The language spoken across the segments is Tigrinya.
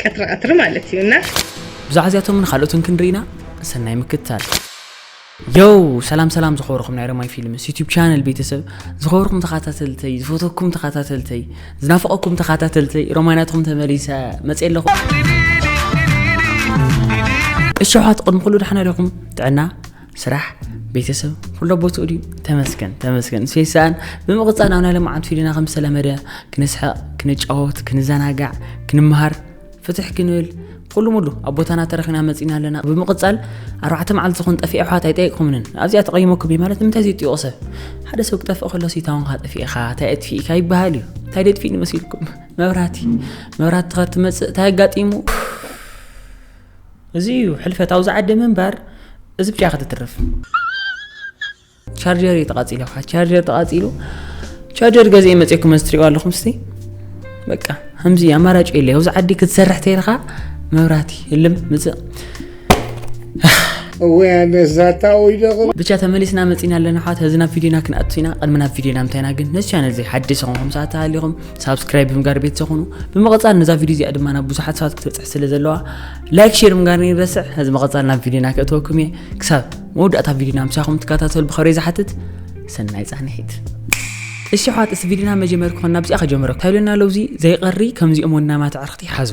ቀትሪ ቀትሪ ማለት እዩ እና ብዛዕባ እዚኣቶምን ካልኦትን ክንርኢና ሰናይ ምክትታል ዮው ሰላም ሰላም ዝኸበርኩም ናይ ረማይ ፊልምስ ዩቲብ ቻነል ቤተሰብ ዝኸበርኩም ተኸታተልተይ ዝፈተኩም ተኸታተልተይ ዝናፍቐኩም ተኸታተልተይ ሮማይናትኩም ተመሊሰ መፅ ኣለኹ እሸውሓት ቅድሚ ኩሉ ዳሕና ዲኹም ጥዕና ስራሕ ቤተሰብ ኩሎ ቦትኡ ድዩ ተመስገን ተመስገን ሴሳን ብምቕፃል ናብ ናይ ልምዓት ፊድና ከም ዝተለመደ ክንስሕቕ ክንጫወት ክንዘናጋዕ ክንምሃር ፍትሕ ክንብል ኩሉ ሙሉ ኣብ ቦታና ተረኺና መፂና ኣለና ብምቕፃል ኣርባዕተ መዓልቲ ዝኾን ጠፊኤ ኣሕዋት ኣይጠየቅኩምንን ኣብዚኣ ተቐይሞኩም እዩ ማለት ንምንታይ ዝጥይቑ ሰብ ሓደ ሰብ ክጠፍእ ከሎ ሲታውንካ ጠፊእኻ እንታይ ኣጥፊእካ ይበሃል እዩ እንታይ ደጥፊእ ንመሲልኩም መብራህቲ መብራህቲ ከትመፅእ እንታይ ኣጋጢሙ እዚ እዩ ሕልፈት ኣብዚ ዓዲ ምንባር እዚ ብቻ ክትትርፍ ቻርጀር እዩ ተቃፂሉ ካ ቻርጀር ተቃፂሉ ቻርጀር ገዜ መፅኩም እዚ ትሪእዋ ኣለኹም ስቲ በቃ ከምዚ ኣማራጭ የለ ኣብዚ ዓዲ ክትሰርሕ ተይልካ መብራቲ ህልም ምፅእ ብቻ ተመሊስና መፂና ኣለና ሓዋት ህዚ ናብ ቪድዮና ክንኣቱ ኢና ቅድሚ ናብ ቪድዮና ምታይና ግን ነዚ ቻነል እዚ ሓዲስ ኹም ሰዓት ተሃሊኹም ሳብስክራይብ ብምጋር ቤተሰብ ኹኑ ብምቕፃል ነዛ ቪድዮ እዚኣ ድማ ናብ ብዙሓት ሰባት ክትበፅሕ ስለ ዘለዋ ላይክ ሼር ምጋር ንረስዕ ነዚ መቐፃል ናብ ቪድዮና ክእተወኩም እየ ክሳብ መወዳእታ ቪድዮና ምሳኹም ትከታተሉ ብኸብረ ዝሓትት ሰናይ ፃንሒት እሺ ኋት እዚ ቪድዮና መጀመር ክኾን ናብዚኣ ከጀምረ ታይሎና ለውዚ ዘይቐሪ ከምዚኦም ወናማት ኣዕርኽቲ ሓዙ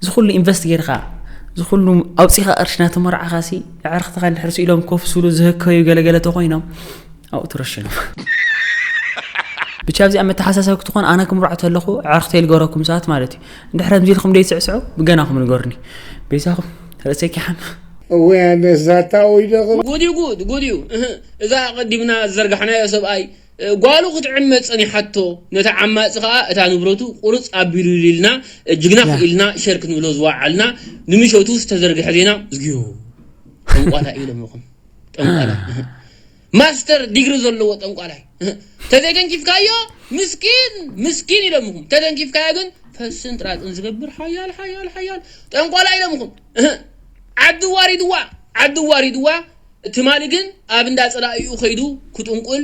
እዚ ኩሉ ኢንቨስት ጌርካ እዚ ኩሉ ኣውፂኻ ቅርሺ ናተመርዓኻ ሲ ኣዕርኽትኻ እንድሕር ስኢሎም ኮፍ ስብሉ ዝህከዩ ገለገለ ተኮይኖም ኣብኡ ትረሽኖም ብቻ ኣብዚኣ መተሓሳሰብ ክትኾን ኣነ ክምርዖ ተለኹ ኣዕርኽተይ ልገረኩም ሰዓት ማለት እዩ እንድሕር ከምዚ ኢልኩም ደይትስዕስዑ ብገናኹም ንገሩኒ ቤዛኹም ርእሰይ ኪሓም እወ ኣነስ ዛታ ወይደቕል ጉድ እዩ ጉድ ጉድ እዩ እዛ ኣቐዲምና ዝዘርጋሕናዮ ሰብኣይ ጓሉ ክትዕመጽ ጸኒሓቶ ነቲ ዓማጺ ከኣ እታ ንብረቱ ቁርጽ ኣቢሉ ኢልና ጅግና ክኢልና ሸር ክንብሎ ዝወዓልና ንምሸቱ ዝተዘርግሐ ዜና ዝግዮ ጠንቋላይ ኢሎም ይኹም ጠንቋላይ ማስተር ዲግሪ ዘለዎ ጠንቋላይ ተዘይተንኪፍካዮ ምስኪን ምስኪን ኢሎም ይኹም ተተንኪፍካዮ ግን ፈስን ጥራጥን ዝገብር ሓያል ሓያል ሓያል ጠንቋላይ ኢሎም ይኹም ዓዲ ዋሪድዋ ዓዲ ዋሪድዋ ትማሊ ግን ኣብ እንዳ ጸላኢኡ ከይዱ ክጥንቁል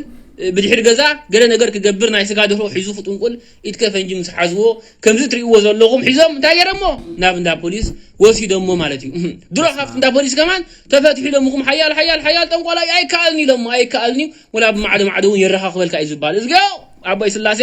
ብድሕሪ ገዛ ገለ ነገር ክገብር ናይ ስጋ ደርሆ ሒዙ ክጥንቁል ኢድከ ፈንጂ ምስ ሓዝዎ ከምዚ እትርእይዎ ዘለኹም ሒዞም እንታይ ገይረሞ ናብ እንዳ ፖሊስ ወሲደሞ ማለት እዩ ድሮ ካብቲ እንዳ ፖሊስ ከማን ተፈትሑ ኢሎምኹም ሓያል ሓያል ሓያል ጠንቋላ እዩ ኣይከኣልን ኢሎሞ ኣይከኣልን እዩ ወላ ብማዕዶ ማዕዶ እውን የረኻኽበልካ እዩ ዝባል እዝገዮ ኣቦይ ስላሴ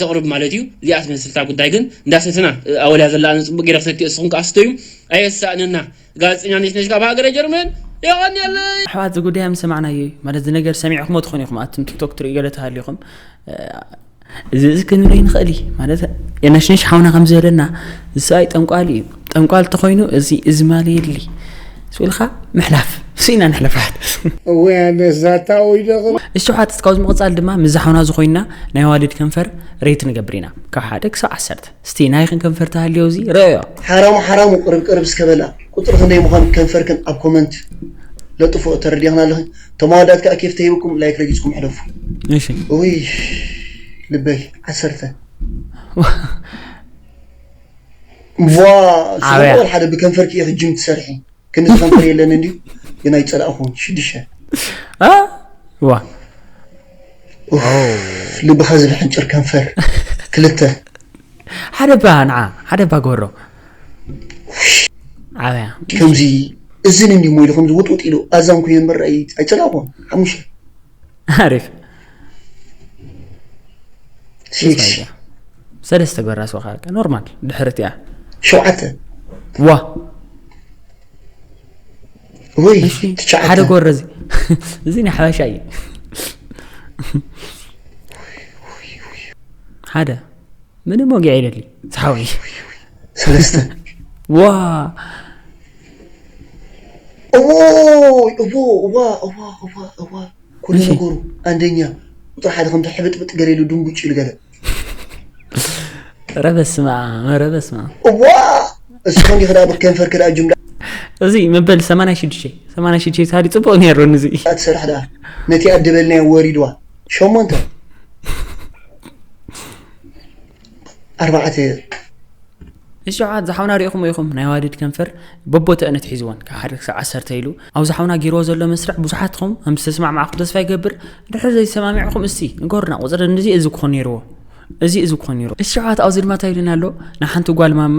ተቅርብ ማለት እዩ እዚኣ ትመስልታ ጉዳይ ግን እንዳሰተና ኣወልያ ዘላ ኣነ ጽቡቅ ጌረ ክሰትዮ እስኹም ከኣ ስተዩ ኣየሳእነና ጋዜጠኛ ነሽነሽ ካብ ሃገረ ጀርመን የቀንየለይ። ኣሕዋት እዚ ጉዳይ ምስ ሰማዕናዮ እዩ ማለት እዚ ነገር ሰሚዕኩሞ ትኾኑ ኢኹም ኣቱም ቲክቶክ ትሪኡ ገለ ተሃሊኹም እዚ እዚ ክንርኢ ንኽእል እዩ ማለት የነሽንሽ ሓውና ከም ዝበለና እዚ ሰብኣይ ጠንቋሊ እዩ ጠንቋል ተኾይኑ እዚ እዚ ማልየሊ ስኢልካ ምሕላፍ ስኢና ንሕለፋት እወ ኣነ ዛታ ወይ ደቕል እሽሓት ካብዚ ምቕፃል ድማ ምስ ዝሓውና ዝኾይንና ናይ ኣዋልድ ከንፈር ሬት ንገብር ኢና ካብ ሓደ ክሳብ ዓሰርተ እስቲ ናይኽን ከንፈር ተሃልዮ እዚ ረዮ ሓራሙ ሓራሙ ቅርብ ቅርብ እስከ በላ ቁፅሪ ክንደይ ምዃን ከንፈርክን ኣብ ኮመንት ለጥፎ ተረዲኽና ኣለኺ እቶም ኣወዳት ከዓ ኬፍ ተሂብኩም ላይክ ረጊፅኩም ሕለፉ እሺ እውይ ልበይ ዓሰርተ ቭዋ ስለ ኣበያ። ወልሓደ ብከንፈርኪ ኢኪ ጅም ትሰርሒ ክንድዚ ከንፈር የለንን ድዩ ግን ኣይጸላእኩን ሽድሸ ኣ ዋ ልብካ ዝብሕንጭር ከንፈር ክልተ ሓደ እባ ንዓ ሓደ እባ ግበሮ ዓበያ ከምዚ እዝን እንዲ ሞ ኢሉ ከምዚ ውጥውጥ ኢሉ ኣዛን ኮይኑ ምርኣይ ኣይጸላእኩን ሓሙሽተ ኣሪፍ ሰለስተ በራስ ወኻ ኖርማል ድሕሪ እቲኣ ሸውዓተ ዋ ወይ ትሽዓተ ሓደ ጎረ እዚ እዚ ናይ ሓበሻ እዩ ሓደ ምንም ወጊዕ የለልይ ጻውዒ ሰለስተ ዋ እዎ እዎ እዋ እዋ እዋ እዋ ኩሉ ነገሩ ኣንደኛ ቁፅሪ ሓደ ከምቲ ሕብጥብጥ ገለ ኢሉ ድንጉጭ ኢሉ ገለ ኧረ በስመ ኣብ ኧረ በስመ ኣብ እዋ እሱ ከም ይኽዳ ከንፈር ክዳ ጅምላ እዚ መበል 86 86 ታዲ ጽቡቕ ነይሩ ንዚ ትሰርሕ ደኣ ነቲ ኣደበልናዮ ወሪድዋ ሸሞንተ ኣርባዕተ እሺ ዓት ዝሓውና ሪኢኹም ኢኹም ናይ ዋዲድ ከንፈር በቦተእነት ሒዝዎን ካብ ሓደ ክሳብ ዓሰርተ ኢሉ ኣብ ዝሓውና ጌርዎ ዘሎ መስርዕ ብዙሓት ኹም ከም ዝተስማዕማዕኹም ተስፋ ይገብር ድሕሪ ዘይሰማሚዕኹም እስቲ ንገሩና ቁፅሪ እዚ እዚ ክኾን ነይርዎ እዚ እዚ ክኾን ነይሩ እሺ ዓት ኣብዚ ድማ እንታይ ኢሉና ኣሎ ንሓንቲ ጓል ማማ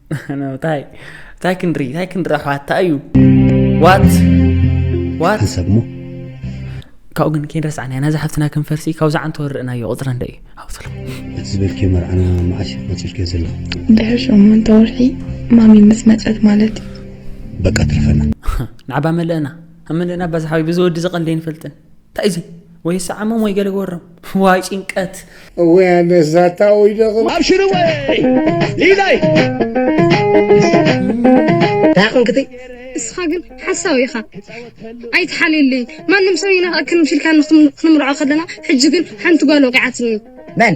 እንታይ እንታይ ክንድሪ እንታይ ክንድሪ ኣሕዋት እንታይ እዩ ዋት ዋት ሕሰብሞ ካብኡ ግን ከይንረስዓና ኢና እዛ ሓፍትና ከም ፈርሲ ካብ ዝዓንተ ወርእናዮ ቁፅረ እንደ እዩ ሃብትሎ እቲ ዝበልክዮ መርዓና መዓስ እዩ ቆፂርክዮ ዘለኹ ድሕሪ ሸሞንተ ወርሒ ማሚ ምስ መፀት ማለት እዩ በቃ ትርፈና ንዓባ መለእና መለእና ባዛሓዊ ብዚ ወዲ ዝቐልደ ይንፈልጥን እንታይ እዚ ወይ ሰዓሞም ወይ ገለ ገበሮም ዋይ ጭንቀት እወ ነዛታ ወይ ደቕ ኣብሽር እወ ሊላይ እንታይ ኮንክቲ እስኻ ግን ሓሳዊ ኢኻ ኣይትሓልየለይ ማንም ሰብ ይነቕክን ምሽልካ ክንምርዖ ከለና ሕጂ ግን ሓንቲ ጓል ወቂዓትኒ መን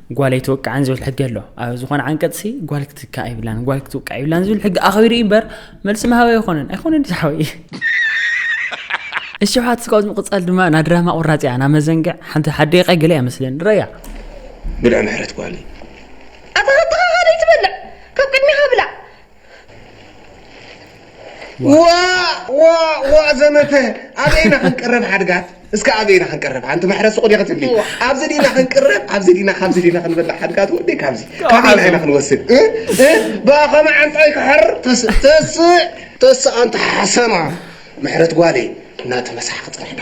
ጓል ኣይትወቅዕን ዝብል ሕጊ ኣሎ ኣብ ዝኾነ ዓንቀፅሲ ጓል ክትካእ ይብላን ጓል ክትወቅዕ ይብላን ዝብል ሕጊ ኣኽቢሩ እዩ እምበር መልሲ መሃቢ ኣይኮነን ኣይኮነን ዝሓወ እዩ እሺ ውሓት ስጋውት ምቕፃል ድማ ናብ ድራማ ቁራፅ እያ ናብ መዘንግዕ ሓንቲ ሓደቀ ገለ እያ መስለን ረያ ብልዕ ምሕረት ጓል እዩ ኣታ ሃተኻ ሓደ ይትበልዕ ካብ ቅድሚኻ ብላዕ ዋእ ዋእ ዋእ ዘመተ ኣበይ ኢና ክንቅረብ ሓድጋት እስከ ኣበይ ኢና ክንቅረብ ሓንቲ ማሕረ ሱቕ ዲኻ ትብሊ ኣብዚ ዲና ክንቅረብ ኣብዚ ዲና ካብዚ ዲና ክንበልዕ ሓድጋት ወደይ ካብዚ ካበይና ኢና ክንወስድ እ? እ? ብኣ ከመ ዓንጣይ ክሕር ተስ- ተስእ ተስእ ኣንታ ሓሰማ ምሕረት ጓለይ እናተመሳሓ ክፅንሕና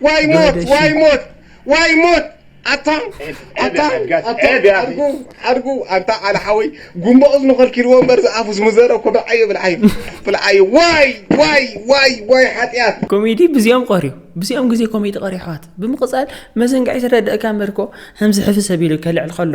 ዋይ ሞት ዶደሺ። ዋይ ሞት ዋይ ሞት ኣታ ዔብ ኣታ ያ ሓጅ ጋሽ፣ ኣታ ዔብ ያ ኣኺ። ሓድጉ ሓድጉ ኣንታ ዓል ሓወይ ጉንቦ እዝኑ ከልኪልዎ እምበር ዝኣፉ ዝምዘረ እኮ ብልዓዮ ብልዓዮ ብልዓዮ ዋይ ዋይ ዋይ ዋይ ሓጥያት ኮሜዲ ብዚኦም ቐርዩ ብዚኦም ግዜ ኮሜዲ ቐርዩ ኣሕዋት ብምቕጻል መዘንግዒ ተረድእካ እምበርኮ ሀምዚ ሕፍስ ኣቢሉ ከልዕል ኸሎ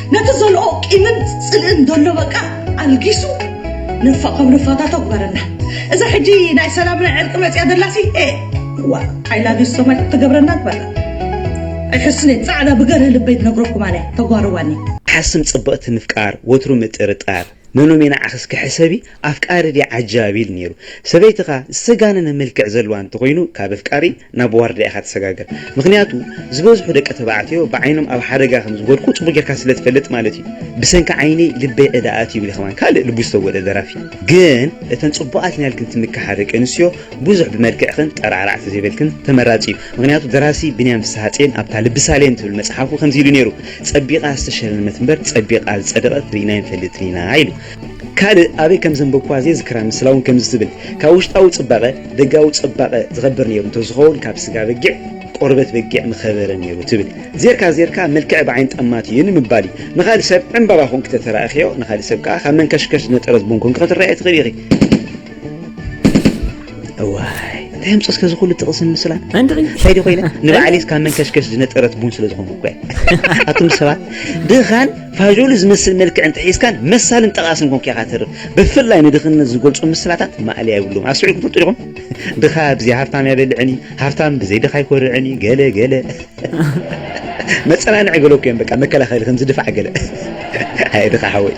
ነቲ ዘልኦ ቂምን ጽልእን ዘሎ በቃ ኣልጊሱ ነፋ ካብ ነፋታቶ ግበረና እዛ ሕጂ ናይ ሰላም ናይ ዕርቂ መጽያ ደላሲ ኤእ ዋእ ኣይ ላቭ ዩ ሶማይ ክትገብረና ትበላ ኣይሕስኔ ጻዕዳ ብገርህ ልበይ ትነግረኩም ኣነ ተጓርዋኒ ሓስም ጽብቕቲ ምፍቃር ወትሩ ምጥርጣር መኖም እየ ንዓኽስ ክሕሰቢ ኣፍቃሪ ድየ ዓጃቢ ኢሉ ነይሩ ሰበይትኻ ዝተጋነነ መልክዕ ዘለዋ እንተኾይኑ ካብ ኣፍቃሪ ናብ ዋርድያ ኢኻ ትሰጋገር ምኽንያቱ ዝበዝሑ ደቂ ተባዕትዮ ብዓይኖም ኣብ ሓደጋ ከም ዝወድቁ ጽቡቕ ጌርካ ስለ ትፈልጥ ማለት ኢዩ ብሰንኪ ዓይነይ ልበይ ዕዳ ኣትዩ ይብል ከማን ካልእ ልቡ ዝተጎድኣ ደራፊ ግን እተን ጽቡቓት ኢናልክን ትምክሓ ደቂ ኣንስትዮ ብዙሕ ብመልክዕክን ጠራዕራዕ ተዘይበልክን ተመራጺ ኢዩ ምኽንያቱ ደራሲ ብንያም ፍስሃጼን ኣብታ ልቢ ሳሌም ትብል መጽሓፉ ከምዚ ኢሉ ኔሩ ጸቢቓ ዝተሸለመት እምበር ጸቢቓ ዝጸደቐት ርኢና ኣይንፈልጥን ኢና ኢሉ ካልእ ኣበይ ከም ዘንበብኩዋ ዘይዝክራ ምስላ እውን ከምዚ ትብል፣ ካብ ውሽጣዊ ጽባቐ ደጋዊ ጽባቐ ዝኸብር ነይሩ እንተዝኸውን ካብ ስጋ በጊዕ ቆርበት በጊዕ ምኸበረ ነይሩ ትብል። ዜርካ ዜርካ መልክዐ ብዓይኒ ጠማት እዩ ንምባል እዩ። ንኻልእ ሰብ ዕምባባ ኰንኪ ተተራእኽዮ ንኻልእ ሰብ ከኣ ካብ መንከሽከሽ ዝነጠረት ቡን ኰንኪ ክትረኣዮ ትኽእሊ ኢኺ። እዋይ እንታይ ኣምፅኦ እስከ ዝኹሉ ጥቕስን ምስላን እንታይ ዲ ኮይነ ንባዕለይስ ካብ መንከሽከሽ ዝነጠረት ቡን ስለ ዝኾንኩ እኳ ኣቱም ሰባት ድኻን ፋዦሉ ዝመስል መልክዕ እንተሒዝካን መሳልን ጠቓስን ኮንክ ኢኻ ተርፍ ብፍላይ ንድኽነት ዝገልፁ ምስላታት ማእለያ የብሉም ኣስዒልኩም ትፈልጡ ዲኹም ድኻ ብዘይ ሃፍታም ኣይበልዕን እዩ ሃፍታም ብዘይ ድኻ ኣይኮርዕን እዩ ገለ ገለ መጸናንዒ ገለኩ እዮም በቃ መከላኸሊ ከምዚ ድፋዕ ገለ ኣየ ድኻ ሓወይ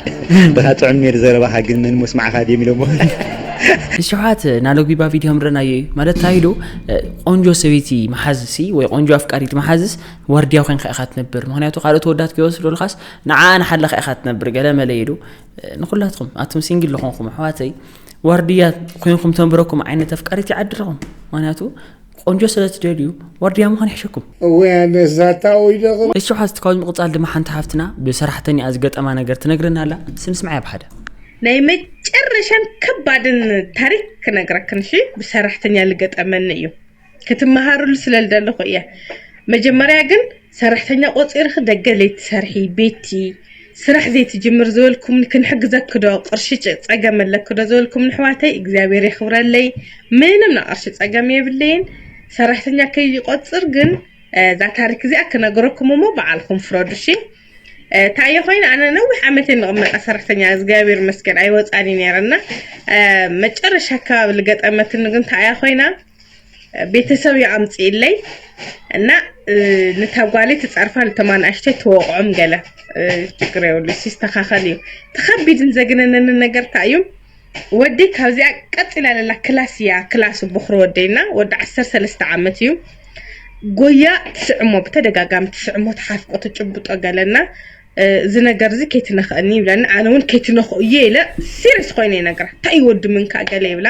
ድኻ ጥዑም ኔር ዘረባኻ ግን መን ሞስማዕኻ ድዮም ኢሎሞ ንሸውዓት ናሎግቢባ ቪድዮ ምረናዮ እዩ ማለት እንታይ ኢሉ ቆንጆ ሰበይቲ መሓዝሲ ወይ ቆንጆ ኣፍቃሪት መሓዝስ ዋርድያ ኮንካ ኢኻ ትነብር ምክንያቱ ካልኦት ተወዳት ከይወስዱልካስ ንዓ ንሓለኻ ኢኻ ትነብር ገለ መለ ኢሉ ንኩላትኩም ኣቶም ሲንግል ዝኾንኩም ኣሕዋተይ ዋርድያ ኮይንኩም ተንብረኩም ዓይነት ኣፍቃሪት ይዓድልኹም ምክንያቱ ቆንጆ ስለ ትደልዩ ዋርድያ ምዃን ይሕሸኩም እወ ኣነስ ዛታ ወይ ደቕም እሺ ሓዝቲ ካብዚ ምቕፃል ድማ ሓንቲ ሓፍትና ብሰራሕተኛኣ ዝገጠማ ነገር ትነግረና ኣላ እስቲ ንስምዓያ ብሓደ ናይ መጨረሻን ከባድን ታሪክ ክነግረክን እሺ ብሰራሕተኛ ልገጠመኒ እዩ ክትመሃርሉ ስለ ልደለኹ እየ መጀመርያ ግን ሰራሕተኛ ቆጺርኺ ደገ ለይትሰርሒ ቤቲ ስራሕ ዘይትጅምር ዝበልኩምኒ ክንሕግዘኪ ዶ ቅርሺ ጸገም ኣለኪ ዶ ዝበልኩምኒ ኣሕዋተይ እግዚኣብሔር የኽብረለይ ምንም ናይ ቅርሺ ጸገም የብለይን ሰራሕተኛ ከይቆጽር ግን እዛ ታሪክ እዚኣ ክነግረኩም እሞ በዓልኩም ፍረዱ እሺ እንታይ እየ ኮይኑ ኣነ ነዊሕ ዓመት እየ ንቕመጣ ሰራሕተኛ እግዚኣብሔር ይመስገን ኣይወፃን እዩ ነይረ እና መጨረሻ ኣካባቢ ልገጠመትኒ ግን እንታይ እያ ኮይና ቤተሰብ እዩ ኣምፅኢለይ እና ንታጓሊ ትፀርፋ ልቶም ኣናእሽተይ ትወቕዖም ገለ ችግር የብሉ ይስተኻኸል እዩ ተኸቢድን ዘግነነንን ነገር እንታይ እዩ ወደይ ካብዚኣ ቀፂላ ለላ ክላስ እያ ክላሱ ብኹሪ ወደይና ወዲ ዓሰርተ ሰለስተ ዓመት እዩ ጎያ ትስዕሞ ብተደጋጋሚ ትስዕሞ ትሓፍቆ ትጭብጦ ገለና እዚ ነገር እዚ ከይትነኽእኒ ይብለኒ ኣነ እውን ከይትነኽኡ እየ ኢለ ሲሪስ ኮይነ ይነግራ እንታይ እዩ ወዲ ምንካ ገለ ይብላ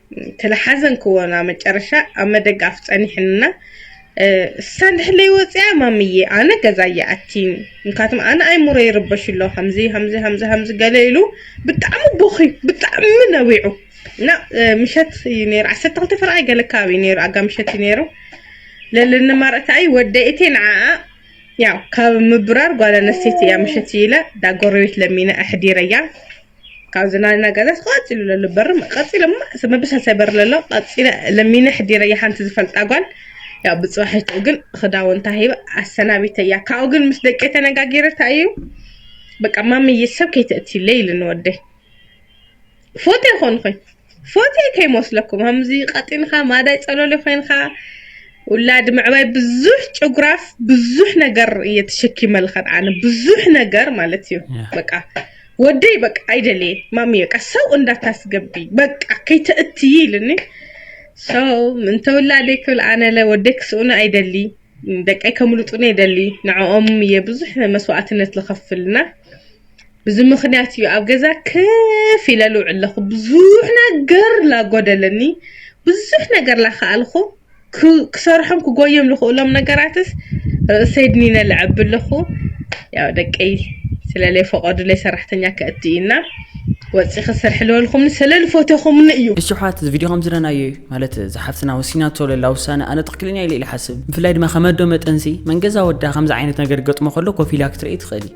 ተላሓዘንክዎ ናብ መጨረሻ ኣብ መደጋፍ ጸኒሕንና እሳ እንድሕለይ ወጽያ ማምዬ ኣነ ገዛ ይኣቲን ምካትም ኣነ ኣይሙረ ይርበሽ ኣሎ ከምዚ ከምዚ ከምዚ ከምዚ ገለ ኢሉ ብጣዕሚ ቦኺ ብጣዕሚ ነዊዑ እና ምሸት እዩ ነይሩ ዓሰርተ ክልተ ፍርቃይ ገለ ከባቢ እዩ ነይሩ ኣጋ ምሸት እዩ ነይሩ ለለኒ ማረእታኣይ ወደኢቴ ንዓኣ ያው ካብ ምብራር ጓል ኣነስተይቲ እያ ምሸት ኢለ ዳ ጎረቤት ለሚነ ኣሕዲረያ ካብ ዝናና ገዛ ቀፂሉ ለሎ በሪ ቀፂለ መበሻሻ በሪ ለሎ ቀፂለ ለሚነ ሕዲረ ሓንቲ ዝፈልጣ ጓል ያው ብፅባሒትኡ ግን ክዳውንታ ሂበ ኣሰናቢተያ ካብኡ ግን ምስ ደቂ ተነጋጊረታ እዩ በቃ ማምዬ ሰብ ከይተእትይለይ ኢሉ ንወደይ ፎቶ ይኾን ኾይ ፎቴ ከይመስለኩም ከምዚ ቀጢንካ ማዳይ ጸሎሊ ኮይንካ ውላድ ምዕባይ ብዙሕ ጭጉራፍ ብዙሕ ነገር እየ ተሸኪመልከን ኣነ ብዙሕ ነገር ማለት እዩ በቃ ወደይ በቃ ኣይደልየ ማሚ በቃ ሰው እንዳታስገቢ በቃ ከይተእትይ ኢልኒ ሰው ምንተ ውላደይ ክብል ኣነለ ወደይ ክስእኑ ኣይደሊ ደቀይ ከምልጡኒ የደሊ ንዕኦም እየ ብዙሕ መስዋእትነት ዝኸፍልና ብዚ ምክንያት እዩ ኣብ ገዛ ክፍ ኢለ ልውዕል ኣለኹ ብዙሕ ነገር ላጎደለኒ ብዙሕ ነገር ላኸኣልኹ ክሰርሖም ክጎዮም ልኽእሎም ነገራትስ ርእሰይ ድኒነ ልዐቢ ኣለኹ ያው ደቀይ ስለለይ ፈቐዱለይ ሰራሕተኛ ከእቲ እዩና ወፂ ክስርሒ ልበልኹምኒ ስለልፎተኹምኒ እዩ እሺ ኣሕዋት እዚ ቪድዮ ከም ዝረናዮ እዩ ማለት እዛ ሓፍትና ወሲናቶ ዘላ ውሳነ ኣነ ትኽክለኛ ኢለ ኢለ ሓስብ ብፍላይ ድማ ከመዶ መጠንሲ መንገዛ ወዳ ከምዚ ዓይነት ነገር ገጥሞ ከሎ ኮፍ ኢላ ክትርኢ ትኽእል እዩ